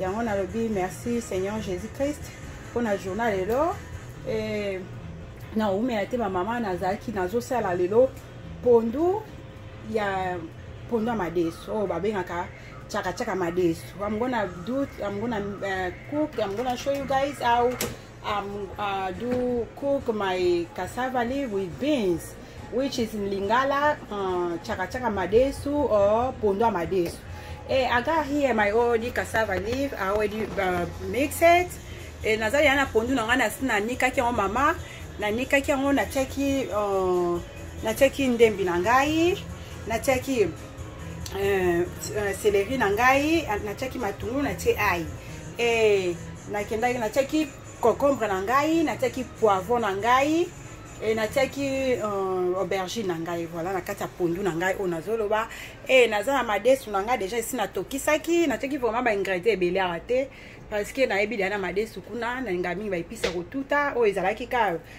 yango nalobi merci seigneur jésus christ mpo na journal lelo e, naumela te bamama nazalaki nazosala lelo pondu ya pondu ya madesu oyo oh, babengaka chakachaka madesu amgona dut amgona uh, cook amgona show you guys au Um, uh, do cook my cassava leaf with beans, which is in Lingala, uh, chaka chaka madesu or pondo madesu. Hey, eh, I got here my already cassava leaf, I already uh, mix it. E eh, nazali yana pondu na ngai nasi nanikaki yango mama nanikaki yango natiaki uh, natiaki ndembi na ngai natiaki euh, euh, celerie na ngai natiaki matungulu natie ai e, nakendaki natiaki concombre na ngai natiaki poivron na ngai e, natiaki euh, aubergine na ngai voilà na kati ya pondu na ngai oyo nazoloba e, naza na madesu na ngai deja esi natokisaki natiaki vraiment baingredient ebele awa te parce que nayebi deya na madesu kuna nalinga mingi baepisa kotuta oyo ezalaki ka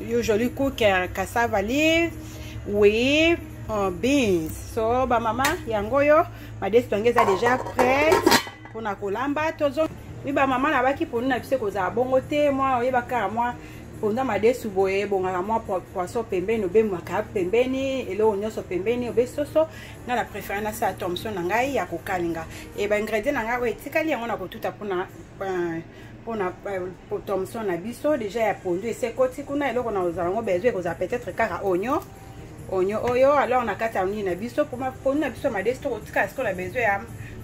yo jolie cooker cassava leaves oui en beans so bamama yango oyo madesi yango eza déjà prête mpona kolamba tozo mi bamama nabaki mponi na biso ekozala bongo te mwa oyeba kaka mwa mponza madesu boye ebongaka mwa poisson pembeni obemaka pembeni eloko nyonso pembeni obe soso nga na préféré nasala tomson na ngai ya kokalinga e baingredient na ngai oyo etikali yango na kotuta mpona euh, mpona euh, thomson na biso deja ya pondu esekoti kuna eloko na ozala yango besoin ekozala peut-être kaka onio onio oyo alors na kati ya nini na biso mpoma pondu na biso madesi tokotikala sikoyo na besoin ya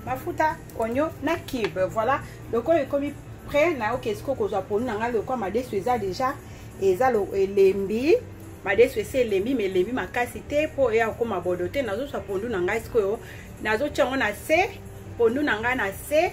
mafuta onio na kibe voilà lokola ekomi près nayoki sikoyo kozwa pondu na ngai lokola madesu eza deja eza elembi madesu esi elembi ma elembi makasi te mpo eya kokoma bodo te nazozwa pondu na ngai sikoyo nazotya yango na se pondu na ngai na se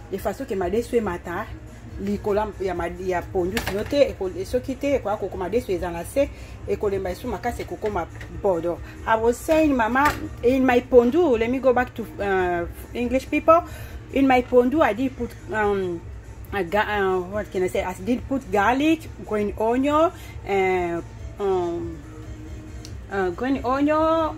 de façon que madesu emata likolo ya, ya pondu sino te soki te ekoya kokoma desu eza na se ekolemba esu makasi ekokoma bodo i was saying mama in my pondu let me go back to uh, english people in my pondu i did put um, I got, uh, what can I say? I did put garlic, green onion, uh, um, uh, green onion,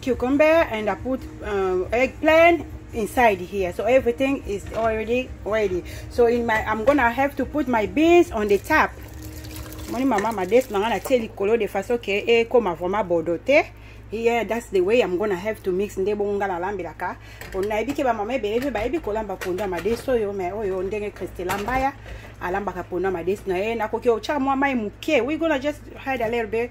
cucumber and I put um, eggplant inside here so everything is already ready so in my I'm gonna have to put my beans on the top moni mama madesu na ngai natie likolo de façon ke ekoma vraiment bodo te yeah that's the way i'm gonna have to mix nde bongo ngai nalambelaka nayebi ke bamama ebele mpe bayebi kolamba pondu ya madesu oyo mai oyo ndenge christela mbaya alambaka pondu ya madesu na ye nakoki otya mwa mai moke we gonna just hide a little bit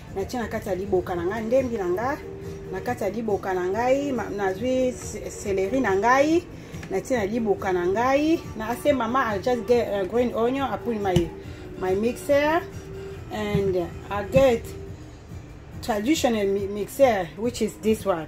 natie na kati ya liboka na ngai ndembi na ngai na kati ya liboka na ngai nazwi seleri na ngai natie na liboka na ngai na ase mama i just get uh, green onion i put my, my mixer and i get traditional mixer which is this one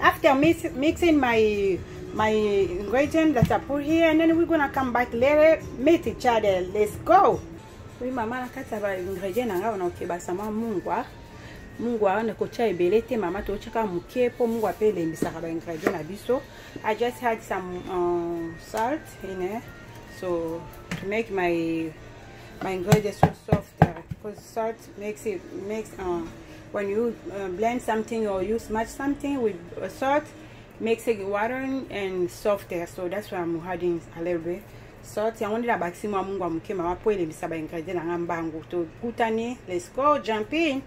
after mix, mixing my my ingredient that I put here and then we're gonna come back later meet each other let's go oui mama nakata ba ingredient na ngai wana okebasa mwa mungwa mungwa wana kotya ebele te mama totyaka moke mpo mungwa mpe elembisaka ba ingredient na biso i just had some um, salt in it so to make my my ingredients so soft uh, because salt makes it makes uh, when you uh, blend something or you smash something with uh, salt makes it watering and softer so that's why i'm adding a little bit salt yango nde nabakisi mwa mungu ya moke mama mpo elembisa baingredient na ngai mbangu tokutani let's go jumping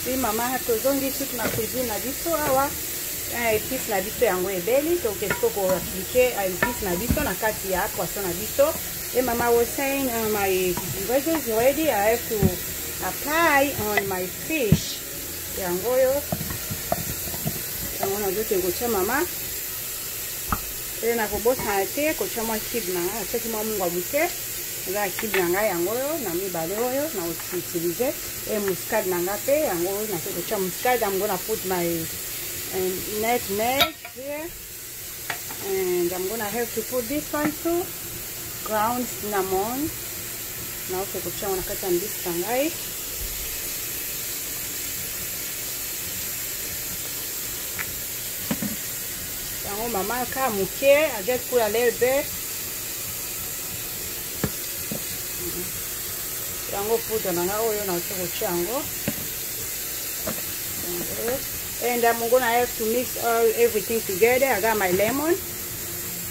si mama tozongi suki na cuisine na biso awa epice eh, na biso yango ebeli toke siko koaplike epice na biso na kati ya poisson na biso e mama was saying uh, my ingredients ready i have to apply on my fish yango oyo yango nazokende kotya mama mpe nakobosana te kotya mwa kibe na ngai natyaki mwa mungwa moke eza ya kibe na ngai yango oyo na mibale oyo nakoutilize e muscade na ngai mpe yango oyo nakoki kotya muscade yango na poudre na net net and I'm gonna have to put this one too ground cinnamon naoke kotia yango na kati ya mbisi na ngai yango mama ka moke i just put a little bit mhm. yango poudre na ngai oyo naoke kotia yango and I'm gonna have to mix all everything together I got my lemon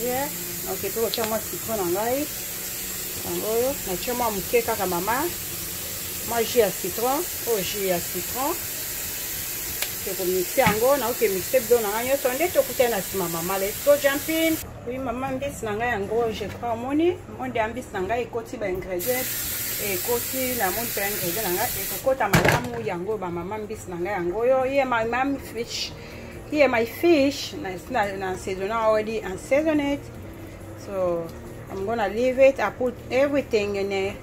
yeah okay pe kotia mwa citron na ngai yango oyo natia mwa moke kaka mama mwa jus ya citron oyo oh, jus ya citron tokomixe yango naoke mixe bido na ngai nyonso nde tokutani na nsima mama let's go jumping Oui maman mbisi na ngai yango je crois omoni monde ya mbisi na ngai ekoti ba ingredient ekoti na moni mpe ingredient na ngai ekokota malamu yango ba mama mbisi na ngai yango oyo ye my mam fish ye my fish na saisona already and season it so i'm gonna leave it i put everything in it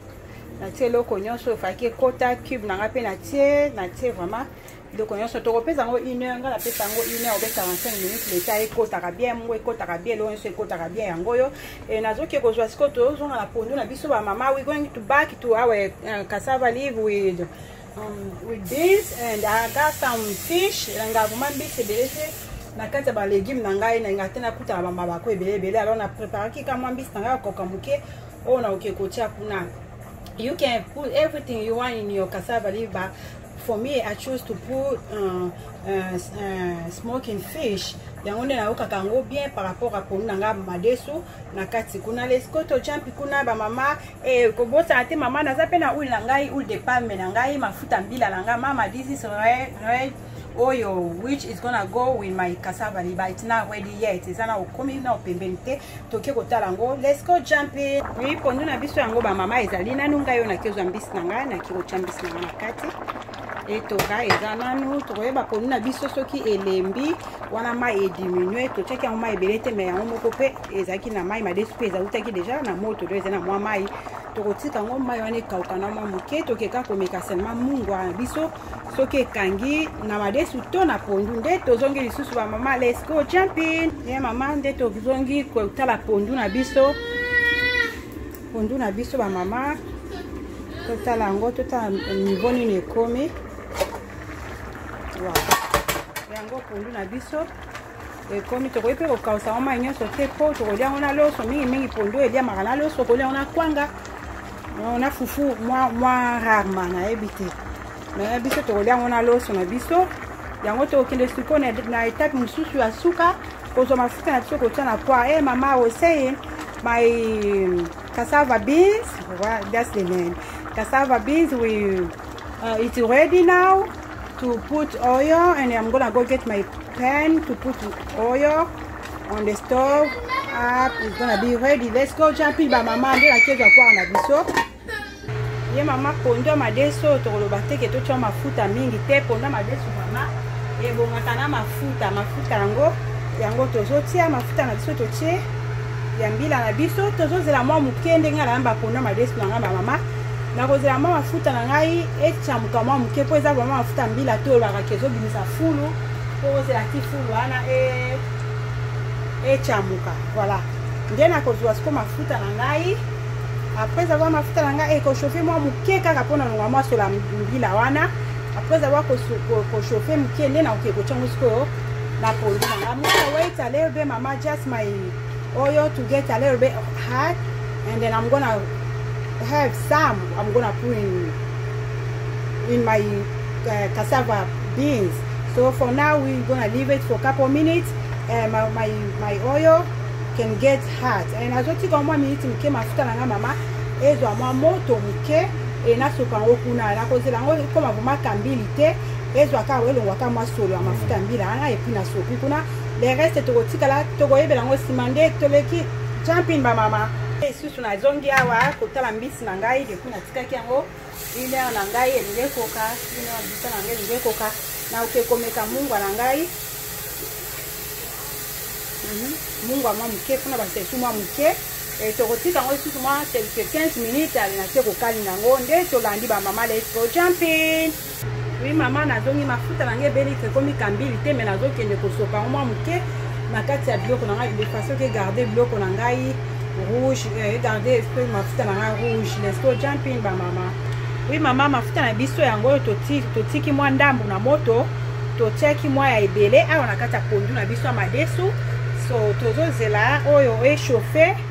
natie eloko nyonso efaki ekota cube na ngai mpe natie natie vraiment biloko nyonso tokopesa yango une heure ngai napesa yango une heure obe 45 minutes leta ekotaka bien yango ekotaka bien eloko nyonso ekotaka bien yango oyo e, nazoki kozwa sikoyo tozonga na pondu na biso bamama we going to back to our uh, cassava live with um, with beans and I got some fish elanga vraimen mbisi ebele te na kati ya balegume na ngai nalinga te nakutana bamabako ebele ebele alors na préparaki ka mwa mbisi na ngai ya koka moke oyo nakoki kotia kuna you can put everything you want in your cassava liver for me i chose to put uh, uh, uh, smoking fish yango nde nayokaka yango bien par rapport a ponu na ngai madesu na kati kuna leskoto jampi kuna bamama e, kobosana te mama naza mpe na ule na ngai ule de palme na ngai mafuta mbila na ngai mama this is red, red oyo which is gonna go with my cassava liba it's not ready yet eza na okomi na opembeni te toke kotala yango let's go jumping oui pondu na biso yango bamama ezali nanu ngai oyo naki ozwa mbisi na ngai naki kotya mbisi na ngai na kati etoka eza nanu tokoyeba pondu na biso soki elembi wana mai ediminue totyaki yango mai ebele te mai yango moko mpe ezalaki na mai madesu mpe ezautaki deja na moto do eza na mwa mai tokotika yango mai wana ekauka na mwa moke tokeka komeka selema mungwa na biso soki ekangi na madesu to na pondu nde tozongi lisusu bamama let's go jumping ye eh, mama nde tozongi kotala pondu na biso pondu na biso bamama totala yango totala nivo nini ekomi yango pondu na biso ekomi tokoki mpe kokausa yango mai nyonso te mpo tokolia yango na loso mingimingi pondo eliamaka na loso kolia yango na kwanga na fufu mwa rarema nayebi te me biso tokolia yango na loso na biso yango tokokende sikoyo na etape mosusu ya suka kozwa mafuta na biso kotya na poi e eh, mama oseye my cassava beans that's the name cassava beans we Uh, it's ready now to put oil and I'm gonna go get my pan to put oil on the stove up it's gonna be ready let's go jumping ba mama nde nakezo akwara na biso ye mama pondu ya madeso tokoloba teke totya mafuta mingi te pondu ya madeso mama ebongaka na mafuta mafuta yango yango tozotia mafuta na biso totie ya mbila na biso tozozela mwa moke ndenge na yamba pondu ya madeso na ngai bamama nakozela mwa mafuta na ngai ecamuka mwa moke mpo eza vraimen mafuta mbila to olobaka ke ezobimisa fulu mpo ozela ti fulu wana ecamuka e voilà nde nakozwa siko mafuta na ngai après avoir mafuta na ngai ekochauffe mwa moke kaka mpo na longa mwasola mbila wana après avoir kochauffe moke nde nakoki kotya yango sikoyo na pondu na ngai mwana waitale be mama just my Oyo to get a little bit of heart and then I'm gonna have some I'm gonna put in in my uh, cassava beans. So for now we're gonna leave it for a couple minutes. Uh, my, my, my oil can get hot and azotika mwa miniti moke mafuta na ngai mama ezwa mwa moto moke e nasopa yango kuna nakozela yango ekoma vraimen kambili te ezwaka elongwaka mwa solo ya mafuta mbila wana epuis nasopi kuna le reste tokotikala tokoyebela yango nsima nde toleki jampin bamama lisusu nazongi awa kotala mbisi na ngai depuis natikaki yango une heure na ngai elingi ekoka une heure bisa na ngai elingi ekoka naoke komeka mungwa na ngai mhm. mungwa mwa moke mpona basesu mwa moke eh, tokotika yango lisusu mwa quelque 15 minutes alinaki kokalinga yango nde tolandi bamama let's go jumping Oui maman nazongi mafuta na ngai ebeli te ekomi kambili te me nazokende kosopa yango mwa moke na kati ya biloko na ngai de façon ke garde biloko na ngai rouge eh, egarde esprit mafuta na ngai rouge lesto jumping bamama oui mama mafuta na biso yango oyo totiki mwa ndambo na moto totiaki mwa ya ebele awa na kati ya pondu na biso ya madesu so tozozela oyo echauffe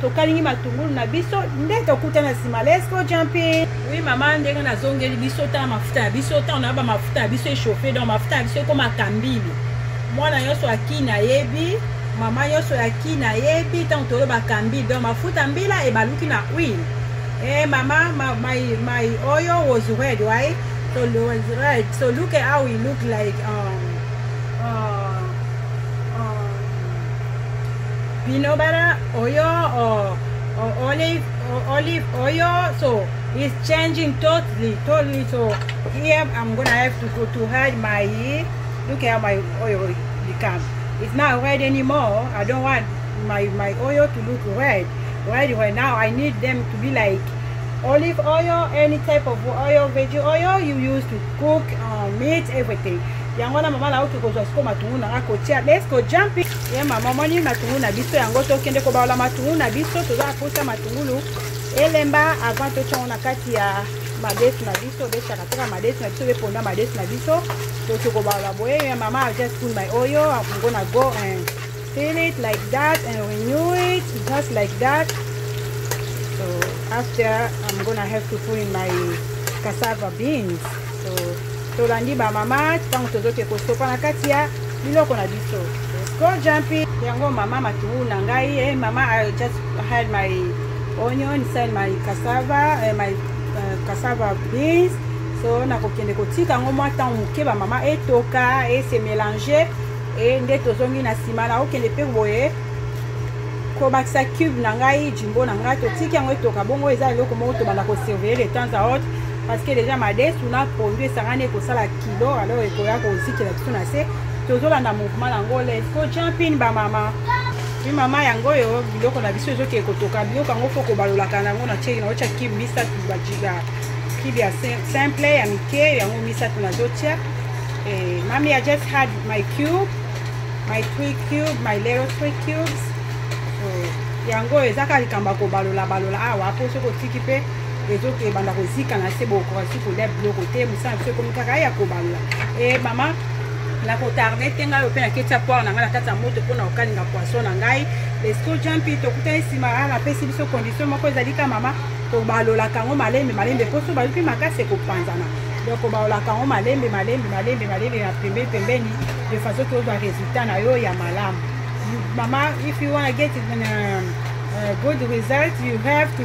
tokalingi matungulu na biso nde tokutana nsima let's go jumping oui mama ndenge nazongeli biso tala mafuta ya biso ntango na yo bamafuta ya biso echauffe donc mafuta ya biso ekoma kambili mwana nyonso akini ayebi mama nyonso ya kini ayebi ntango toyo bakambili donc mafuta mbila ebaluki na huile e eh, mama ma, my, my oyo was red right so was red so look at how he look like um, Bino bara oyo olive olive oyo so is changing totally totally so here I'm gonna have to go to hide my look at my oil become it's not red anymore I don't want my my oil to look red red right now I need them to be like olive oil any type of oil veggie oil you use to cook uh, meat everything yango wana mama nauti kozwa siko matungulu nanga kotia let's go jumping ye mama omoni matungulu na biso yango tokende kobaola matungulu na biso toza na mposa matungulu elemba avant totya yango na kati ya madesu na biso obesaka kaka madesu na biso obeponda madesu na biso toki kobaola boye ye mama i just put my oil i'm gonna go and fill it like that and renew it just like that so after i'm gonna have to put in my cassava beans tolandi ba mama ntango tozoke kosopa na kati ya biloko na biso go jumping yango mama matungulu na ngai eh, mama i just had my onion inside my cassava eh, my uh, cassava beans so nakokende kotika yango mwa ntango moke bamama etoka ese mélange e nde tozongi na nsima nakokende mpe boye kobakisa cube na ngai jimbo na ngai totiki yango etoka bongo eza eloko moko tobanda kosurveille de temps à autre parce que déjà madesu na pondu esangani ekosala kilo alors ekoya kozikela biso na se tozolanda mouvement yango les ko jumping bamama mi mama yango oyo biloko na biso ezokee kotoka biloko yango fo kobalolaka nango na tieki naotya kibe misato bajiga kibe ya simple ya mike yango misato nazotya eh, mami i just had my cube my three cube my little three cubes so, yango ezaka likambo ya kobalolabalola awa mpo soki otiki mpe ezo ke banda kozika na se bokoki kolia biloko te mosala biso ekomi kaka ya kobalola e eh, mama nakotarde te ngai ope naketi ya poire na ngai na kati ya moto mpo na kokalinga poisson na ngai lesco jampi tokutani nsima a ah, napesi biso condition moko ezali ka mama kobalolaka yango malembe malembe mpo so baluki makasi ekopanzana donc kobalolaka yango malembe malembe malembe malembe na pembeni pembeni de façon tozwa résultat na yo ya malamu mama if you want to get uh, uh, good result you have to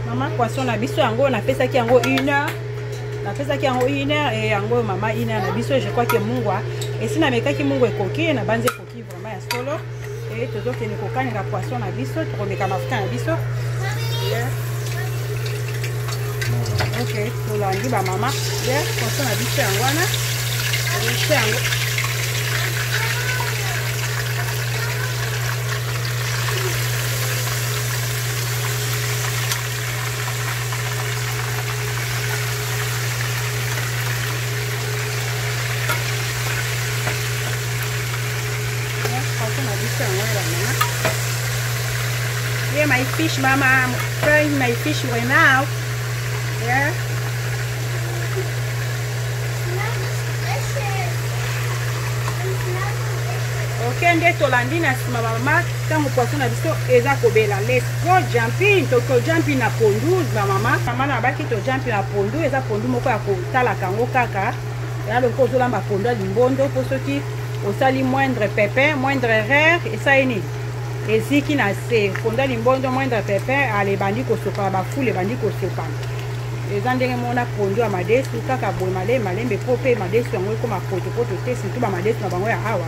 mama poisson na biso yango napesaki yango une heure napesaki yango une heure e yango oyo mama une heure na biso je crois ke mungwa esi namekaki mungwa ekoki nabanzi ekoki vraiment ya solo e tozokende kokalinga poisson na biso tokomeka mafuta na biso ok tolandi bamama ye poisson na biso yango wana biso yango Yeah, my fish, Mama. I'm frying my fish right now. Yeah. Okay, nde tolandi na nsima bamaki Tango poisson na biso eza kobela let's go jumping to to jumping na pondu ba mama mama na baki to jumping na pondu eza pondu moko ya kotala kango kaka ya loko ozolamba pondu ya limbondo mpo soki osali moindre pepin moindre erreur esali nini eziki na se fonda limbondo moindre pepin ale ebandi kosopana bafule ebandi kosopana eza ndenge mona pondu ya madesu kaka boye malembe malembe mpo mpe madesu yango ekoma potopoto te surtout bamadesu na bango ya awa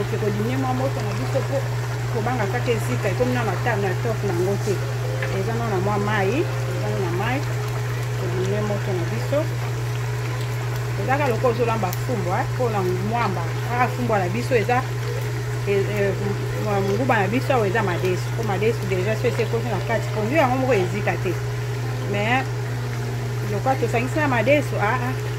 oke kodimie mwa moto na biso mpo kobanga kaka esika ekomi na matame na top na yango te eza na na mwa mai eza na mai kodimie moto na biso ezaka lokola ozolamba fumbwa eh, mpona mwamba kaka fumbwa na biso eza eh, eh, nguba na biso awa eza madesu mpo madesu deja so esi ekosi na kati pondu yango moko ezika te mais lokola tosangisi na madesu aa ah, ah.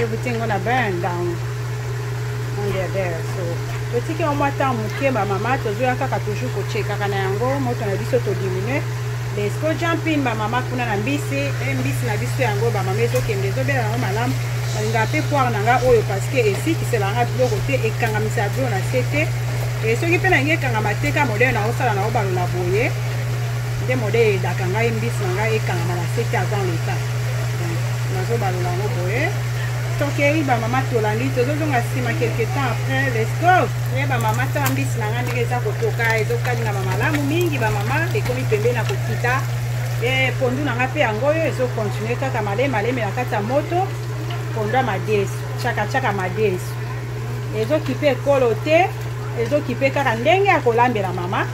ebuti ngo na baya ndango ondebere so totiki yango mwa ntango moke bamama tozoya kaka toujours kochekaka na yango moto na biso todiminue lesko jampin bamama kuna na mbisi e mbisi na biso yango bamama ezokende ezobela yango malamu balinga mpe poire na nga oyo parceke esikisela nga biloko te ekangamisa ya biloko na se te e soki mpe na yango ekangama te ka modele na osala na obalola boye nde mode edaka ngai mbisi na ngai ekangama na sete avant leta nazobalola yango boye tokei bamama tolandi tozozonga nsima quelque temps après lesco ye bamama tala mbisi na ngai ndenge eza kotoka ezokalingama malamu mingi bamama ekomi pembe na kokita e pondu na ngai mpe yango oyo ezokontinue kaka malemi malemi na kati ya moto pondu ya madesu chakachaka madesu ezokipe ekolo te ezokipe kaka ndenge ya kolambela mama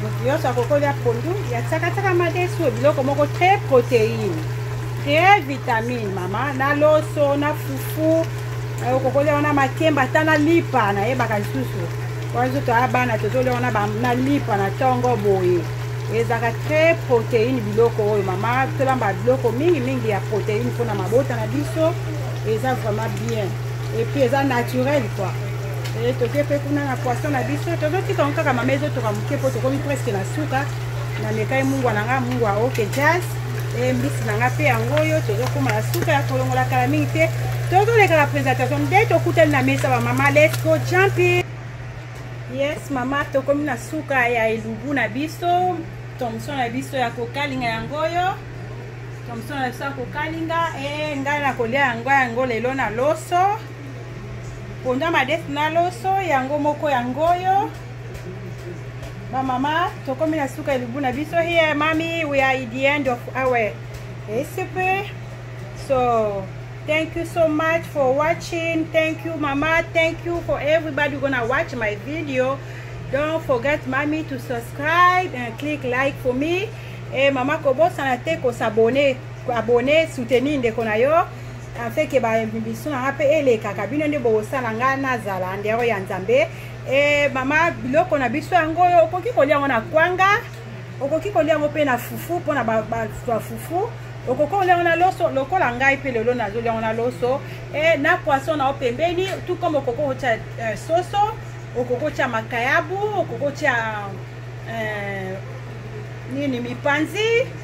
moto nyonso akoki kolya pondu ya tsakatsaka madesu biloko moko très protéine très vitamine mama na loso na fufu okoki kolya wana makemba ata na lipa nayebaka lisusu wana biso toya bana tozolya wana na lipa na ntongo boye ezalaka très protéine biloko oyo mama tolamba biloko mingi mingi ya protéine mpona mabota na biso eza vraiment bien epuis eza naturel quoi Eh, toke mpe kuna na poisson na biso tozotika ngo kaka mama ezotoka moke mpo tokomi presque na suka namekai mungwa na nga mungwa oke jazz eh, mbisi na nga mpe yango oyo tozokoma na suka ya kolongola kala mingi te tozoleka na présentation nde tokutani na mesa bamama lesco champi yes mama tokomi na suka ya elubu na biso tomson na biso ya kokalinga yango oyo tomson na biso ya kokalinga e ngai nakolia yango yango lelo na loso ponda madesi na loso yango moko yango oyo bamama tokomi na suka elubu na biso here mami we are in the end of our recipe so thank you so much for watching thank you mama thank you for everybody gonna watch my video don't forget mami to subscribe and click like for me e mama kobosana te kosabone abone soutenir ndeko na yo afin ke baemission na nga mpe elekaka bino nde bokosala nga nazala ndero ya nzambe e mama biloko na biso yango oyo okoki kolia yango na kwanga okoki kolia yango mpe na fufu mpona bato ya fufu okoki kolia yango na loso lokola ngai mpe lelo nazolia yango na loso e na poisson na yo pembeni tout comme okoki kotya euh, soso okoki kotya makayabu okoki kotya euh, nini mipanzi